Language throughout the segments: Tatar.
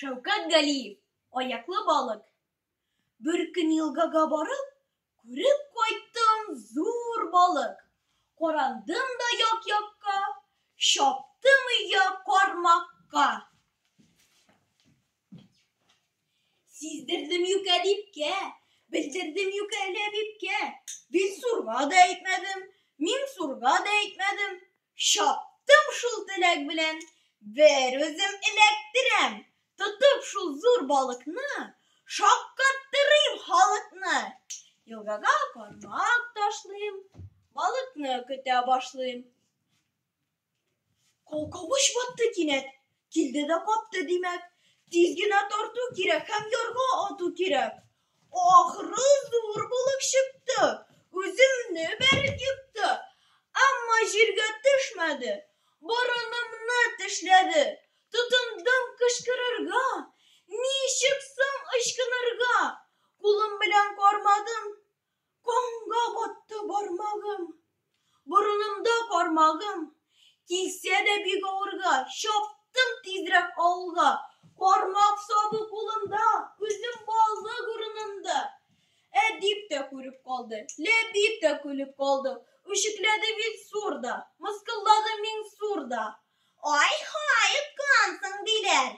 Шәүкәт Галиев, аяклы балык. Бер көн елгага барып, күреп кайттым зур балык. Карандым да як-якка, чаптым өйгә кармакка. Сиздердем юк әдипкә, белдердем юк әле әбипкә. Билсурга да әйтмәдем, Миңсурга да әйтмәдем. Чаптым шул теләк белән, бер үзем эләктерәм. Тотып шул зур балыкны, шаккаттырыйм халыкны. Елгага кармак ташлыйм, балыкны көтә башлыйм. Калкавыч батты кинәт, килде дә капты, димәк, тиз генә тарту кирәк һәм ярга ату кирәк. Ахры, зур булып чыкты, үземне бәреп йотты, әмма җиргә төшмәде, борынымны тешләде. Тотындым кычкырырга, ничек соң ычкынырга? Кулым белән кармадым, Комга батты бармагым, борынымда бармагым, килсә дә бик авырга, чаптым тизрәк авылга. Бармак сабы кулымда, күзем балык урынында. Ә дип тә күреп калды, ләбип тә көлеп калды. Үчекләде бит зур да, мыскыллады миң зур да. Ай ха, йоткансың, диләр,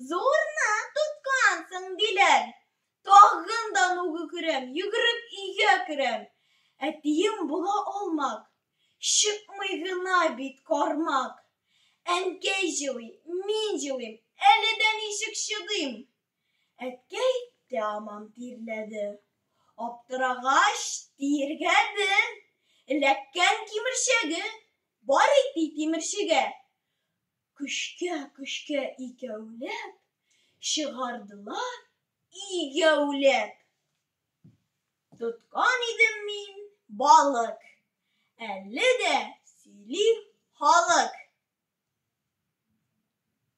зурны тоткансың, диләр. Тагын да нугы күрәм, йөгереп өйгә керәм. Әтием була алмак, чыкмый гына бит кармак. Әнкәй җылый, мин җылыйм, әле дә ничек чыдыйм. Әткәй тәамам тирләде. Аптырагач, тиергәде. Эләккән кимерчәге, барый ти тимерчегә. Көчкә-көчкә икәүләп, чыгардылар игәүләп. Тоткан идем мин балык, әле дә сөйли халык.